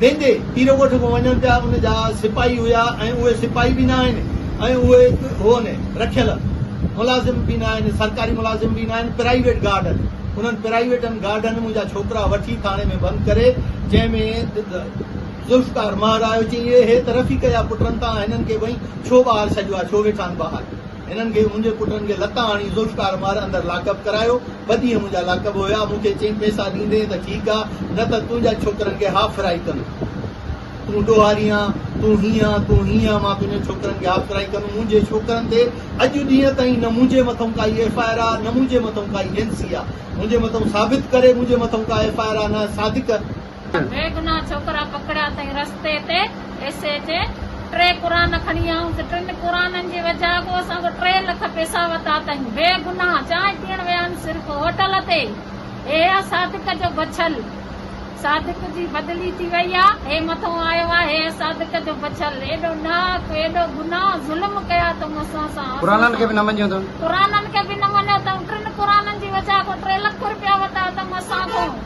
ويندي پيرو ڳوٺ ۾ وڃن پيا ان جا سپاهي هيا ۽ اهي سپاهي به نه آهن ۽ اهي هون رکيل ملازم به نه آهن سرڪاري ملازم به نه آهن پرائيويٽ گارڊ آهن انهن پرائيويٽن گارڊن منهنجا ڇوڪرا وٺي ٿاڻي ۾ بند ڪري جنهن ۾ ذوالفقار مهر آيو چيائين اهي ته رفيق جا پٽ تان هنن کي وئين ڇو ٻاهر ڇڏيو آهي ڇو ويٺا آهن ٻاهر هنن کي منهنجي پٽن کي لتان هڻي ذوالفقار مار اندر لاڪ اپ ڪرايو، ٻه ڏينهن منهنجا لاڪ اپ هيا، مون کي چيم پئسا ڏيندين ته ٺيڪ آ نه ته تنهنجا ڇوڪرن کي هاف فرائي ڪندو، تون ڏوهاري آن، تون هيئن آن، تون هيئن آن، مان تنهنجن ڇوڪرن کي هاف فرائي ڪندم، منهنجي ڇوڪرن تي اڄ ڏينهن تائين نه منهنجي مٿئون ڪائي ايف آء آر آ نه منهنجي مٿئون ڪائي اين سي آ، منهنجي مٿئون ثابت ڪري منهنجي مٿئون ڪا ايف آء آر آ نه صادق. بيگناهه ڇوڪرا پڪڙيا اٿئي رستي تي ايس ايچ اي ٽي قرآن کڻي آئون ته ٽن قرآنن جي وجهه اڳو اسان کان ٽي لک پيسا ورتا اٿئي بيگناهه چانهه پيئڻ ويا آهن صرف هوٽل تي اهي صادق جو بڇل صادق جي بدلي ٿي وئي آ هي مٿو آيو آ هي صادق جو بڇل ايڏو ڏاهپ ايڏو گناهه ظلم ڪيا اٿئون اسان سان قرآنن کي به نه مڃيو اٿئون قرآنن کي به نه مڃيو اٿئون ٽن قرآنن جي وجهه اڳو ٽي لک رپيا ورتا اٿئون اسان کان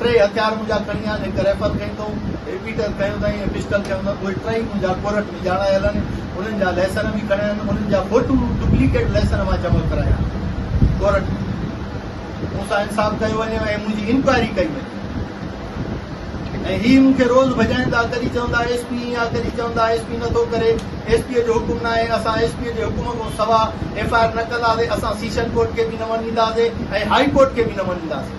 ٽيئي هٿيار منهنجا کڻي آيا آهن، هڪ ريفل کڻي اٿئون، رپيٽر کنيو اٿئين ۽ پسٽل کنيو اٿئون، اهي ٽيئي منهنجا ڪورٽ ۾ ڄاڻايل آهن، انهن جا لئسن به کڻيا آهن، انهن جا فوٽو ڊپليڪيٽ لئسن مان جمع ڪرايا آهن، ڪورٽ ۾ مون سان انصاف ڪيو وڃي ۽ منهنجي انڪوائري ڪئي وڃي ۽ هي مون کي روز ڀڄائيندا، ڪڏهن چوندا ايس پي ائين آ، ڪڏهن چوندا ايس پي نٿو ڪري، ايس پيء جو حڪم ناهي، اسان ايس پيء جي حڪم کان سوا ايف آء آر نه ڪنداسين، اسان سيشن ڪورٽ کي به نه وڃينداسين ۽ هائي ڪورٽ کي به نه وڃينداسين.